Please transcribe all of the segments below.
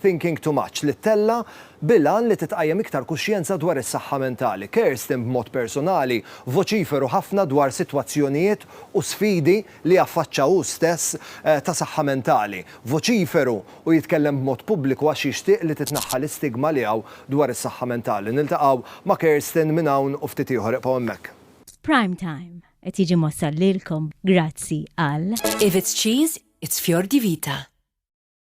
Thinking Too Much, li ttella' bil-għan li titqajjem iktar kuxjenza dwar is-saħħa mentali. Kerstin b'mod persunali voċiferu ħafna dwar sitwazzjonijiet u sfidi li affaċċa hu stess ta' saħħa mentali. Voċiferu u jitkellem b'mod pubbliku għax jixtieq li titneħħa l-istigma li hawn dwar is-saħħa mentali. Niltaqgħu ma' Kerstin minn hawn u ftit ieħor. Ibqgħu hemmhekk. Prime Time qed jiġi mwassal lilkom grazzi għal. If it's cheese, it's fior di vita.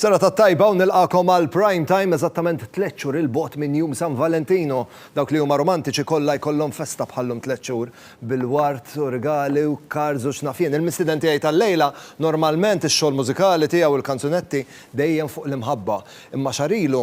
Serata t-tajba u nilqakom għal Prime Time eżattament tliet xhur il-bogħod minn jum San Valentino. Dawk li huma romantiċi kollha jkollhom festa bħallum tliet xhur bil-ward u rigali u cards u x'naf jien. Il-mistiden tiegħi tal-lejla normalment ix-xogħol mużikali tiegħu l-kanzunetti dejjem fuq l-imħabba. Imma xahar ilu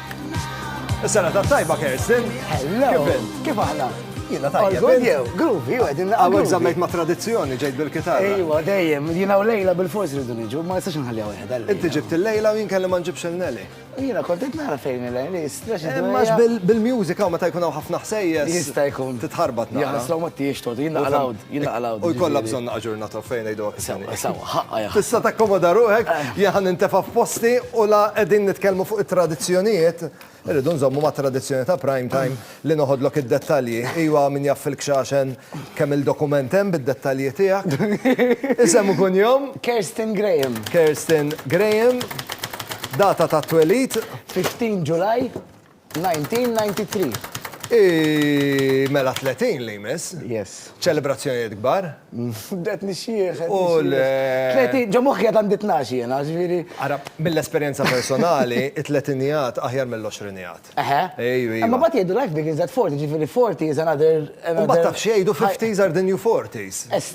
Is-sena ta' tajba Kerstin. Hello. Kif int? Kif aħna? Jiena tajjeb. Għazun jew, gruvi, u għedin naqqa. Għawek zammejt ma' tradizjoni ġejt bil-kitarra. Ejwa, dejjem, jiena u lejla bil-fors rridu niġu, ma jistax nħalli għawek. Inti ġibt il-lejla u jien kelli ma nġibx il-neli. Jiena kontet nara fejn il-lejla, jistrax. Eh, Max bil-mużika u meta jkun hawn ħafna ħsejjes. Jista' jkun. Titħarbat nara. Jgħasraw ma t-tiex tot, jiena għalawd. Jien naqlgħu U jiġifieri. jkollha bżonn naqa' ġurnata fejn ngħiduha kif inhi. Sewa, sewa, ħaqqa hija. Tista' takkomoda ruħek, jien ħa nintefa' f'posti u la qegħdin nitkellmu fuq it-tradizzjonijiet, irridu nżommu mat-tradizzjoni ta' Prime Time li noħodlok id-dettalji. Iwa, min jaf fil-Kxaxen kemm-il dokument hemm bid-dettalji tiegħek. Isem u kunjom? Kerstin Graham. Kerstin Graham. Data tat-twelid? 15 Ġulaj. 1993. Hi mela 30 li jmiss. Yes. Ċelebrazzjonijiet kbar. Bdejt nixjieħ. U l. 30, ġo moħħi għad għandi tnax jiena, ġifieri. Ara, mill-esperjenza personali, it-tletinijat aħjar mill-għoxrinijat. Eħe. Ejju, ejju. Imma mbagħad jgħidu life begins at 40, ġifieri 40 is another, another. Mbagħad taf x'jgħidu 50s are the new 40s.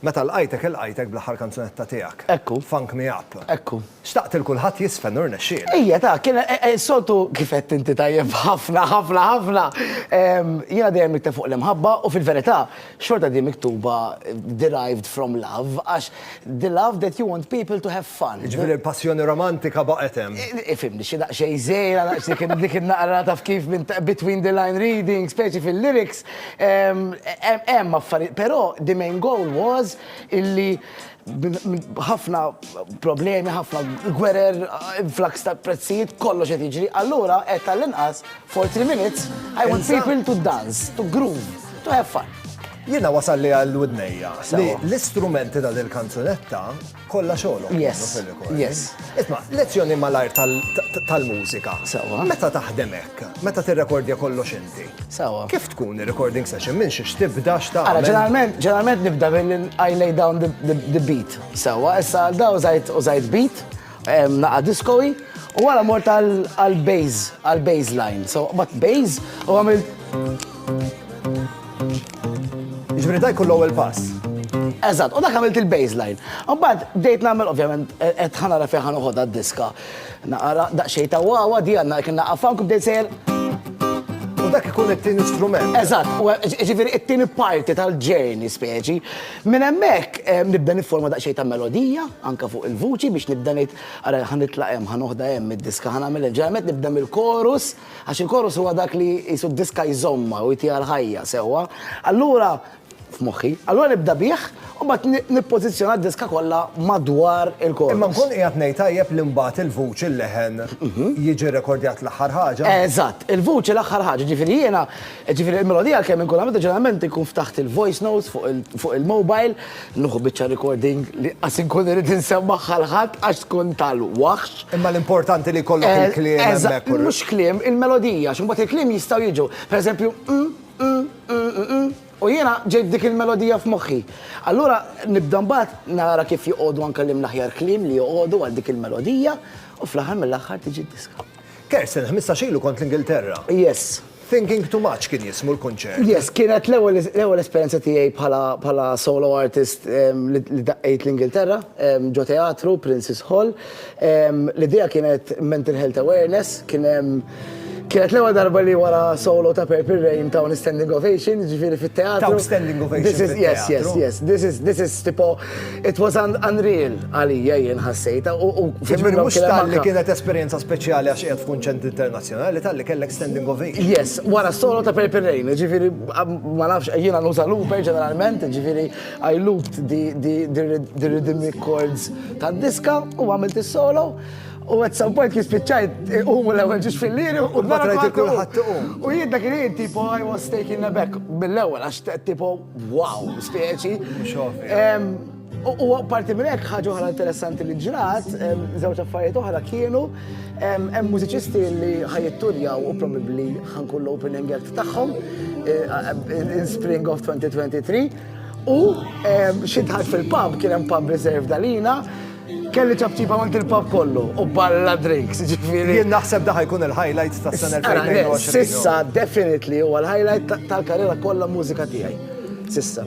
Meta lqajtek ilqajtek bl-aħħar kanzunetta tiegħek. Ekku. Funk me up. Ekku. Xtaqt lil kulħadd jiżfen u rnexxielek. Ejja ta, kien is-soltu kif għedt inti tajjeb ħafna ħafna ħafna. Jiena dejjem nikteb fuq l-imħabba u fil-verità xorta di miktuba derived from love għax the love that you want people to have fun. Jiġifieri l-passjoni romantika baqgħet hemm. Ifhimni xi daqsxejn żgħira, daqsxejn dik in-naqra taf kif minn between the line reading, speċi fil-lyrics, Hemm affarijiet, però the main goal was illi ħafna problemi, ħafna gwerer, influx ta' prezzijiet, kollox qed jiġri. Allura qed tal-inqas for three minutes I want people to dance, to groove, to have fun. Jiena wasal li għal widnejja li l-istrumenti ta' dil-kanzunetta Kollha xogħolhom kienu fir-rekording. Yes, yes. Isma', lezzjoni malajr tal-mużika. Sewwa. Meta taħdem hekk, meta tirrekordja kollox inti. Sewwa. Kif tkun ir-recording session minn xiex tibda x'ta'. Ara, ġeneralment, ġeneralment nibda billi I lay down the beat. Sewwa, issa għal da użajt użajt beat, naqa' diskowi, u wara mort għal-bass, għal-bass line. So, but bass, u għamilt. Ġifieri dak kull ewwel pass. Eżatt, u dak għamilt il-baseline. Mbagħad bdejt nagħmel ovvjament qed ħanara fejn ħanoħodha d-diska. Naqra daqsxejn ta' wawa di għandna kien naqaf funk bdejt sejjer. U dak ikun it-tieni strument. Eżatt, ġifieri it-tieni parti tal-ġerni speċi. Minn hemmhekk nibda nifforma daqsxejn ta' melodija anke fuq il-vuċi biex nibda ngħid ara ħa nitlaq hemm, ħa noħda hemm id-diska, ħa nagħmel hemm. Ġeneralment nibda mill-chorus. għax il-chorus huwa dak li qisu d-diska jżommha u jtiha l-ħajja sewwa, allura, f'moħħi, allura nibda bih u mbagħad nippożizzjona d-diska kollha madwar il-chorus. Imma nkun qiegħed ngħid tajjeb li mbagħad il-vuċi, l-leħen, jiġi rrekordjat l-aħħar ħaġa? Eżatt, il-vuċi l-aħħar ħaġa, jiġifieri jiena, jiġifieri l-melodija kemm inkun għamiltha ġeneralment inkun ftaħt il-voice notes fuq il-mobile, Nieħu biċċa recording li qas inkun irid insemmaħħa l-ħadd għax tkun tal-waħx. Imma l-importanti li jkollok il-kliem hemmhekk. Mhux kliem, il-melodija, x'imbagħad il-kliem jistgħu jiġu. Pereżempju, u jiena ġejt dik il-melodija f'moħħi. Allura nibda mbagħad nara kif joqogħdu anke l-imn aħjar kliem li joqogħdu għal dik il-melodija u fl-aħħar mill-aħħar tiġi d-diska. Kersen, ħmistax ilu kont l-Ingilterra. Yes. Thinking Too Much kien jismu l-kunċert. Yes, kienet l-ewwel esperjenza tiegħi bħala solo artist li daqqejt l-Ingilterra, ġo teatru, Princes Hall. L-idea kienet mental health awareness, kien hemm Kienet l-ewwel darba li wara solo ta' Purple Rain ta' un standing ovation, ġifieri fit-teatru. Ta' standing ovation. Yes, yes, yes. This is tipo It was un unreal għalija jien ħassejta u u Ġifieri mhux tal-li kienet esperjenza speċjali għax qiegħed f'kunċent internazzjonali, tal-li kellek standing ovation. Yes, wara solo ta' Purple Rain, ġifieri ma nafx jiena nuża looper ġeneralment, ġifieri I looped the rhythmic chords tad-diska u għamilt is-solo. U għed some point kispiċċajt umu l-ewel ġiġ fil-liri u d-barra kulħadd U jidda kien tipo I was taking a back mill-ewel għax tipo Wow, speċi. U parti minn hekk ħaġa oħra interessanti li ġrat, żewġ affarijiet oħra kienu hemm mużiċisti li ħajitturjaw u probabbli ħankun l-opening act tagħhom eh, in spring of 2023 u xi fil-pub kien hemm pub reserve dalina Kelli ċabċipa mant il-pub kollu u balla drinks, ġifiri. Jien naħseb daħ jkun il-highlight ta' sena 2020. Sissa, definitely, u l-highlight tal-karriera kollha mużika tiegħi. Sissa.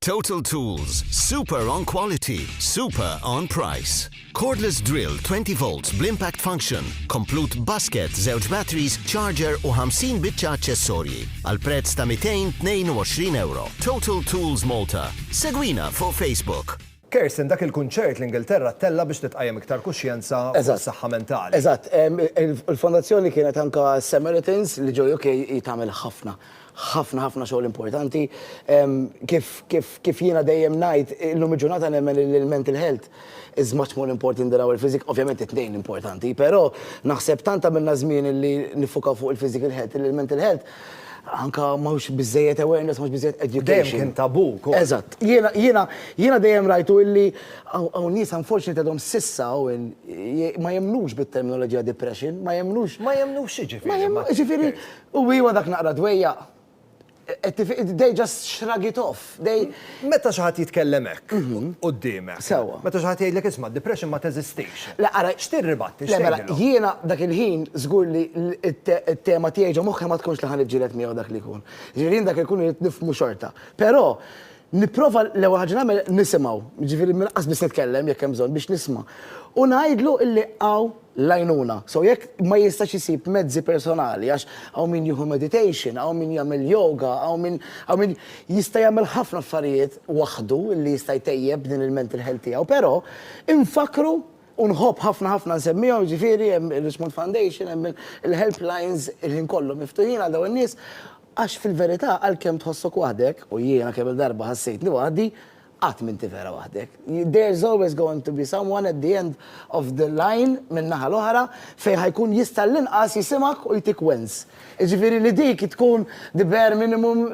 Total Tools, super on quality, super on price. Cordless drill 20 volts bl-impact function, komplut basket, żewġ batteries, charger u 50 biċċa aċċessorji għal prezz ta' 222 euro. Total Tools Malta. Segwina fuq Facebook. Kirsten, dak il-kunċert l-Ingilterra ttella' biex titqajjem iktar kuxjenza fuq is-saħħa mentali. Eżatt, eżatt. Il-Fondazzjoni kienet anke s-Samaritans li ġew UK hi tagħmel ħafna, ħafna, ħafna xogħol importanti. Kif, kif, kif jiena dejjem ngħid, illum il-ġurnata nemmen li l-mental health is much more important than our physic, ovvjament it-tnejn importanti, però naħseb tant għamilna żmien li niffukaw fuq il-physical health li l-mental health anka mhux biżejjed awareness, mhux biżejjed education. Dejjem kien tabu wkoll. Eżatt. Jiena jiena jiena dejjem rajtu illi hawn nies unfortunately għadhom s'issa hawn ma jemmnux bit-terminoloġija depression, ma jemmnux. Ma jemmnux x'jiġifieri? Jiġifieri, u iva dak naqra dwejjaq. They just shrug it off. They. Meta xi ħadd jitkellem hekk quddiemek. Sewwa. Meta xi ħadd jgħidlek isma' d-depression ma teżistix. Le ara. X'tirribatti, x'tgħidilhom? Le mela, jiena dak il-ħin żgur li t-tema tiegħi ġo moħħi ma tkunx li ħa niġġieled miegħu dak li jkun. Jiġifieri jien dak li jkun irrid nifhmu xorta. Però nipprova l-ewwel ħaġa li nagħmel nisimgħu. Jiġifieri minn inqas biss nitkellem jekk hemm bżonn biex nisma'. U ngħidlu illi hawn. l-għajnuna. So jekk ma jistax isib mezzi personali għax hawn min jieħu meditation, hawn min jagħmel yoga, hawn min hawn min jista' jagħmel ħafna affarijiet waħdu li jista' jtejjeb din il-mental health tiegħu, però infakkru u nħobb ħafna ħafna nsemmihom, jiġifieri hemm ir-Richmond Foundation, hemm il-helplines il-ħin kollu miftuħin għal dawn in-nies għax fil-verità għalkemm tħossok waħdek, u jiena kemm-il darba ħassejtni waħdi, Qatt m'inti vera waħdek. There's always going to be someone at the end of the line min-naħa l-oħra fejn ħa jkun jista' l-inqas jisimgħek u jtik wens. Jiġifieri li dik tkun the bare minimum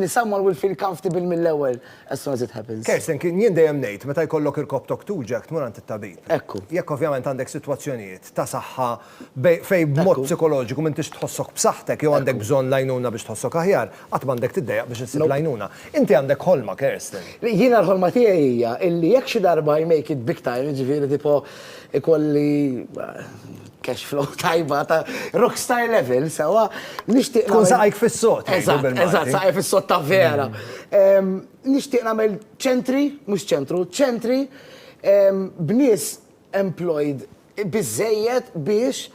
li someone will feel comfortable mill-ewwel as soon as it happens. Kerstin, kien jien dejjem ngħid meta jkollok irkopptok tuġgħek tmur għand it-tabib. Ekku. Jekk ovvjament għandek sitwazzjonijiet ta' saħħa Fejn b'mod psikoloġiku m'intix tħossok b'saħħtek jew għandek bżonn l-għajnuna biex tħossok aħjar, qatt m'għandek tiddejjaq biex issib l-għajnuna. Inti għandek ħolma, Kerstin. Jiena l-ħolma tiegħi hija illi jekk xi darba I make it big time, jiġifieri tipo ikolli cash flow tajba ta' rock star level, sewwa, nixtieq. Tkun saqajk fis-sod. Eżatt, eżatt, saqajja fis-sod ta' vera. Nixtieq nagħmel ċentri, mhux ċentru, ċentri b'nies employed biżżejjed biex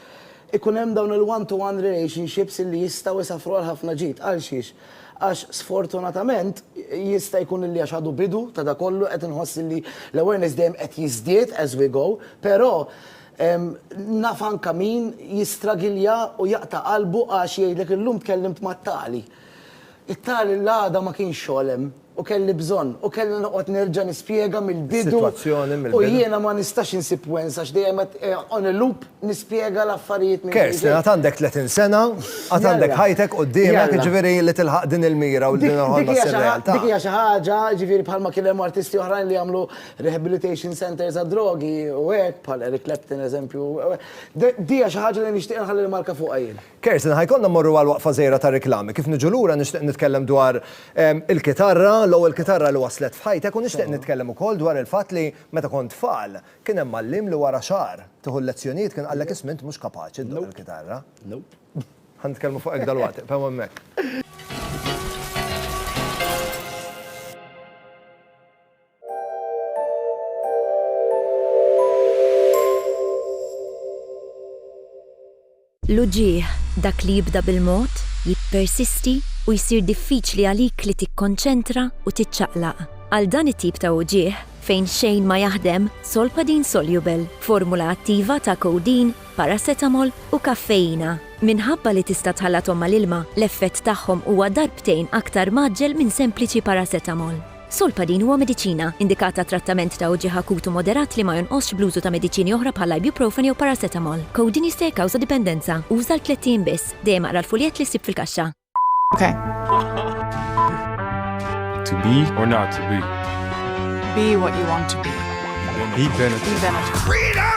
ikun hemm dawn il-one to one relationships illi jistgħu isaffru għal ħafna ġid. Għalxiex? Għax sfortunatament jista' jkun illi għax għadu bidu ta' dak kollu qed inħoss illi l-awareness dejjem qed jiżdied as we go, però naf anke min jistragilja u jaqta' qalbu għax jgħidlek illum tkellimt mat-tali. It-tali l-għada ma kienx xogħol hemm. u kelli bżonn u kellha noqgħod nerġa' nispjega mill-bidu u jiena ma nistax insib wens għax dejjem qed on a loop nispjega l-affarijiet minn ġdid. Kerstin, għad għandek 30 sena, għad għandek ħajtek quddiemek, jiġifieri li tilħaq din il-mira u din il-ħolma ssir realtà. Dik hija xi ħaġa, jiġifieri bħalma kien hemm artisti oħrajn li jagħmlu rehabilitation centres għad-drogi u hekk, bħal Eric Clapton eżempju, di hija xi ħaġa li nixtieq inħalli l-marka fuqha jien. Kerstin, Ħa jkollna mmorru għal waqfa żgħira ta' riklami. Kif niġu lura nixtieq nitkellem dwar il-kitarra, l-ewwel kitarra li waslet f'ħajtek u nixtieq nitkellem ukoll dwar il-fatt li meta kont tfal kien hemm mgħalliem li wara xahar tieħu l-lezzjonijiet kien qallek isma' int mhux kapaċi ddoqq il-kitarra. Ħa nitkellmu fuq hekk dalwaqt, iqfgħu hemmhekk. L-uġigħ, dak li jibda bil-mod, jippersisti u jsir diffiċli għalik li tikkonċentra u tiċċaqlaq. Għal dan it-tip ta' uġigħ fejn xejn ma jaħdem, Solpadeine Soluble, formula attiva ta' codeine, paracetamol u kaffeina. Minħabba li tista' tħallathom mal-ilma, l-effett tagħhom huwa darbtejn aktar mgħaġġel minn sempliċi paracetamol. Solpadeine huwa mediċina, indikat għat-trattament ta' uġigħ akut u moderat li ma jonqosx bl-użu ta' mediċini oħra bħall-ibuprofen jew paracetamol. Codeine jista' jikkawża dipendenza. Uża għal tlett ijiem biss. Dejjem aqra l-fuljett li ssib fil-kaxxa. To be or not to be. Be what you want to be. Be Benetton. Be Benetton. Freedom!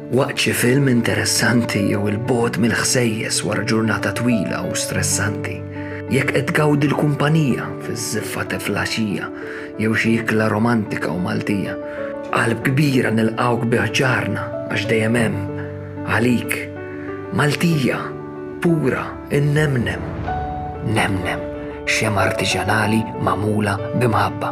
Waqt xi film interessanti jew il-bogħod mill-ħsejjes wara ġurnata twila u stressanti, jekk qed tgawdi l-kumpanija fiż-żiffa teflaxija jew xi ikla romantika u Maltija, b'qalb kbira nilqgħuk bi ħġarna għax dejjem hemm, għalik, Maltija, pura, innemnem, nemnem, xemgħa artiġjanali magħmula b'imħabba.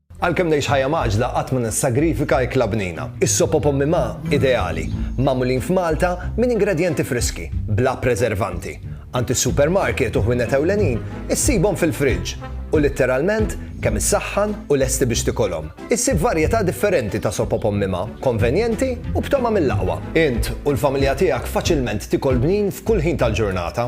Għalkemm ngħix ħajja mgħaġġla qatt ma nissagrifika ikla bnina. Is-sop u pommi ma, ideali, magħmulin f'Malta minn ingredjenti friski, bla preservanti. Għand is-supermarket u ħwienet ewlenin issibhom fil-friġġ u litteralment kemm issaħħan u lesti biex tikolhom. Issib varjetà differenti ta' sop u pommi ma, konvenjenti u b'togħma mill-aqwa. Int u l-familja tiegħek faċilment tikol bnin f'kull ħin tal-ġurnata.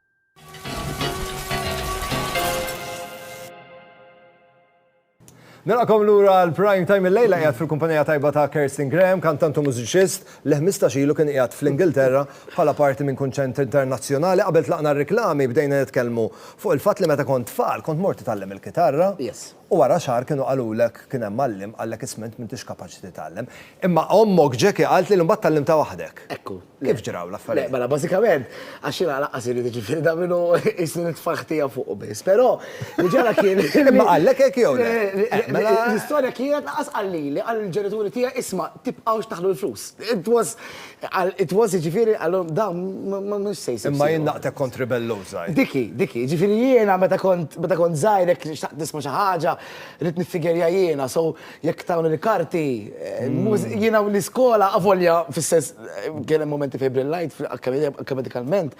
Nilqakom lura l-prime time il-lejla qiegħed fil-kumpanija tajba ta' Kerstin Graham, kantant u mużiċist li 15 ilu kien qiegħed fl-Ingilterra bħala parti minn kunċent internazzjonali qabel tlaqna r-reklami bdejna nitkellmu fuq il-fatt li meta kont tfal kont mort titgħallem il-kitarra. Yes. U wara xahar kienu qalulek kien hemm għalliem qallek isma' int m'intix kapaċi titgħallem. Imma ommok Jackie qaltli li mbagħad tgħallimtha waħdek. Ekku. Le. Kif ġraw l-affarijiet? Le, mela bażikament, għax jiena lanqas irrid jiġifieri dan minnu qisni nitfaħħ tiegħu fuqu biss. Però li ġara kien li. Imma qallek hekk jew le? Eh, mela. L-istorja kienet lanqas qal lili, qal lill-ġenituri tiegħi isma' tibqgħux taħlu l-flus. It was Qal, it was, jiġifieri, qalhom, dawn mhux se jsib. Imma jien naqtek kont ribelluż żgħir. Diki, diki, jiġifieri jiena meta kont, meta kont żgħir jekk xtaqt nisma' xi ħaġa, ridt niffigerja jiena, so jekk tawni l-karti, jiena u l-iskola, avolja fis-sens, kien hemm mumenti fejn brillajt akkademikalment,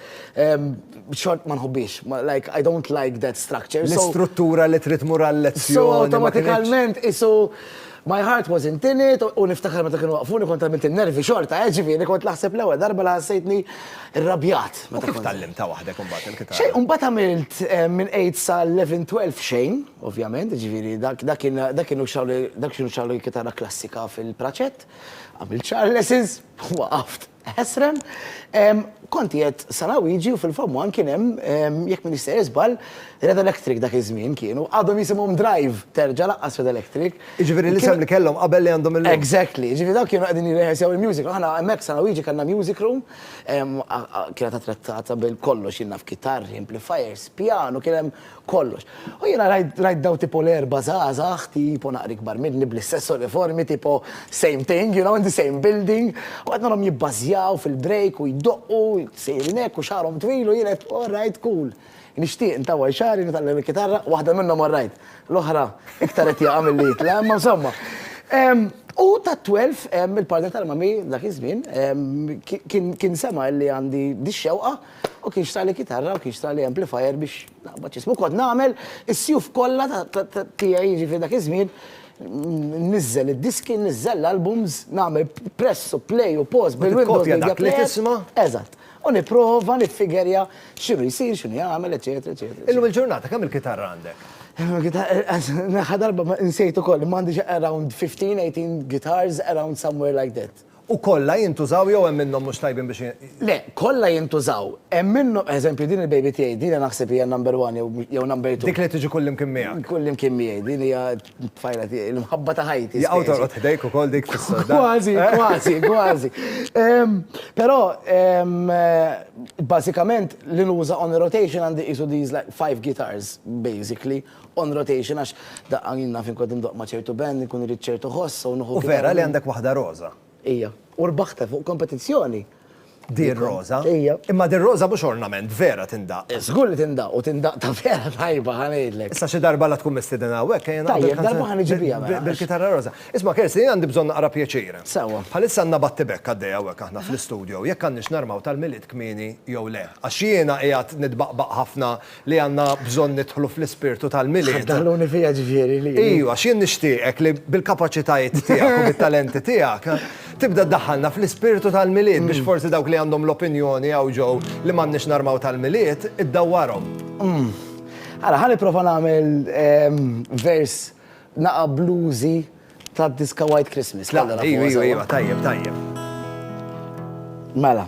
xort ma nħobbhiex, like I don't like that structure, so. L-istruttura li trid tmur għal-lezzjoni. So awtomatikalment qisu. My heart was in tin it u niftakar meta kienu waqqfuni kont għamilt in-nervi xorta, eh, ġifieri kont naħseb l-ewwel darba li ħassejtni rrabjat. U kif tgħallimtha waħdek imbagħad il-kitarra? Xejn, u mbagħad għamilt minn eight sa eleven, twelve xejn, ovvjament, ġifieri dak dak kien dak kienu xrawli dak kienu xrawli l-kitarra klassika fil-praċett, għamilt xahar lessons, waqaft. Ħesran, Kont qiegħed San Awiġi u fil-Famwan kien hemm, jekk m'iniex sejjer żball, Red Electric dak iż-żmien kienu, għadhom jisimhom Drive, terġa' laqqas Red Electric. Jiġifieri l-isem li kellhom qabel li għandhom illum. Exactly. Jiġifieri dawn kienu qegħdin jirrehearsew il-music. Aħna hemmhekk f'San Awiġi kellna music room, kienet attrezzata bil-kollox, jien naf kitarri, amplifiers, pjanu, kien hemm kollox. U jena rajt daw tipo l-erba zazax, tipo naqri kbar minni bl-istess uniformi, tipo same thing, you know, in the same building, u għadna l-om jibbazjaw fil-break u jiddoqqu, sejrinek u xarom twilu, jenet, all right, cool. Nishtiq ntawa xari, nitallem il-kitarra, wahda minnom all right, l-ohra, iktar etja għamil li jitla, ma insomma. U ta' 12, il-partner tal-mami dak iż-żmien, kien sema li għandi dix-xewqa, U kien xtaq li kitarra u kien xtaq li amplifier biex naqbad x'ismu. U kont nagħmel is-sjuf kollha tiegħi jiġifieri dak iż-żmien nniżżel id-diski, nniżżel l-albums, nagħmel press u play u pause bil-Windows Media Player. Eżatt. U nipprova niffigerja x'inhu jsir, x'inhu jagħmel, eċċetera, eċċetera. Illum il-ġurnata kemm il-kitarra għandek? L-aħħar darba nsejt ukoll, imma għandi xi around 15, 18 guitars around somewhere like that. U kollha jintużaw jew hemm minnhom mhux tajbin biex. Le, kollha jintużaw. Hemm minnhom, pereżempju, din il-baby tiegħi, din naħseb hija number one jew jew number two. Dik li tiġi kullimkien miegħek. Kullimkien miegħi, din hija t-tfajla tiegħi, l-imħabba ta' ħajti. Jaqgħu torqod ħdejk ukoll dik fis-sodda? Kważi, kważi, kważi. Però, bażikament, li nuża on a rotation għandi qisu these like five guitars, basically. on rotation għax daqqa jien naf inqogħod indoqq ma' ċertu band, inkun irrid ċertu ħoss u nieħu. U vera li għandek waħda roża. Ija. U rbaħtha fuq kompetizzjoni. Din roża? Ija. Imma din roża mhux ornament, vera tindaqq. Żgur li tindaqq u tindaqq ta' vera tajba ħa ngħidlek. Issa xi darba la tkun mistieden hawnhekk ejja naqdu l-kanzuna. Tajjeb, darba ħa niġi biha mela. Bil-kitarra roża. Isma' Kersi, jien għandi bżonn naqra pjaċir. Sewwa. Bħalissa għandna battibekk għaddej hawnhekk aħna fl-istudio, jekk għandniex narmaw tal-Milied kmieni jew le. Għax jiena qiegħed nitbaqbaq ħafna. li għandna bżonn nidħlu fl-ispirtu tal-Milied. Ħadd daħluni fija ġifieri li. Iju, għax jien nixtieqek li bil-kapaċitajiet tiegħek u bit-talenti tiegħek tibda ddaħħalna fl-ispirtu tal-Milied biex forsi dawk li għandhom l-opinjoni hawn ġew li m'għandniex narmaw tal-Milied, iddawwarhom. Ara, ħa nipprova nagħmel vers naqa' bluesy tad-diska White Christmas. Iju, iju, iju, tajjeb, tajjeb. Mela.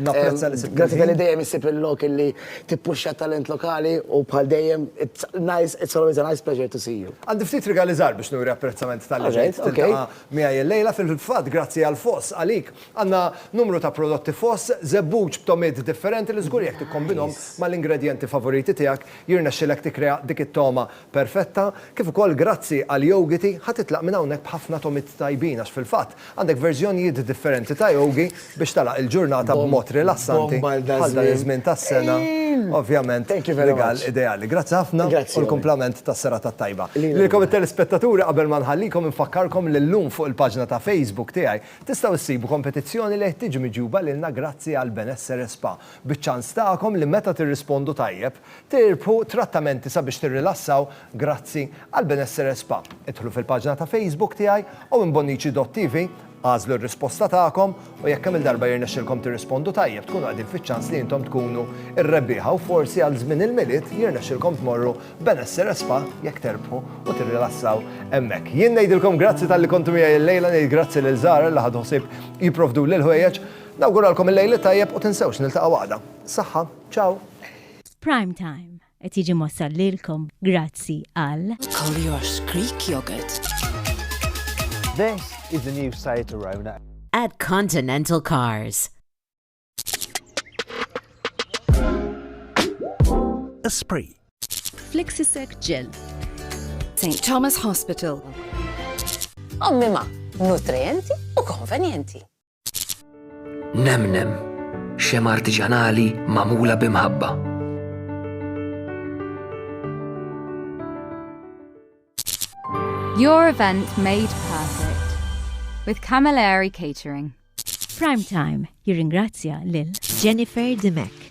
Napprezza li sibt. Grazzi tal-li dejjem issib il-lok illi tippuxxa t-talent lokali u bħal dejjem, it's nice, it's always a nice pleasure to see you. Għandi ftit rigali żgħar biex nuri apprezzament talli ġejt tiltaqa' miegħi illejla. Fil-fatt, grazzi għal Foss, għalik, għandna numru ta' prodotti Foss, żebbuġ b'togħmiet differenti li żgur jekk tikkombinhom mal-ingredjenti favoriti tiegħek, jirnexxilek tikkrea dik it-togħma perfetta, kif ukoll grazzi għal Yogiti ħa titlaq minn hawnhekk b'ħafna tomiet tajbin għax fil-fatt għandek verżjonijiet differenti ta' Yogi biex tagħlaq il-ġurnata b'mod rilassanti bħal dan iż-żmien tas-sena, ovvjament rigal ideali. Grazzi ħafna u l-kumplament tas-serata t-tajba. Lilkom it-telespettaturi qabel ma nħallikom infakkarkom li llum fuq il-paġna ta' Facebook tiegħi tistgħu ssibu kompetizzjoni li qed tiġi miġjuba lilna grazzi għal Benessere Spa, biċ-ċans tagħkom li meta tirrispondu tajjeb, Tirbħu trattamenti sabiex tirrilassaw grazzi għal Benessere Spa. Idħlu fil-paġna ta' Facebook tiegħi u minn bonnici.tv agħżlu r-risposta tagħkom u jekk kemm-il darba jirnexxilkom tirrispondu tajjeb tkunu qegħdin fiċ-ċans li intom tkunu r-rebbieħa u forsi għal żmien il-Milied jirnexxilkom tmorru Benessere Spa jekk terbħu u tirrilassaw hemmhekk. Jien ngħidilkom grazzi talli kontu miegħi l-lejla, ngħid grazzi lil Zahra li ħadu ħsieb jipprovduli l-ħwejjeġ. Nawguralkom il-lejl it-tajjeb u tinsewx niltaqgħu għada. Saħħa! Ciao. Prime Time qed jiġi mwassal lilkom grazzi għal Collier's Creek Yogurt. This is the new Seat Arona. At Continental Cars. Esprit. Flexisec Gel. St. Thomas Hospital. Ommima, nutrienti u konvenienti. Nemnem, xem artiġanali magħmula b'imħabba. Your event made perfect with Camilleri Catering. Prime Time jirringrazzja lil Jennifer Dimek.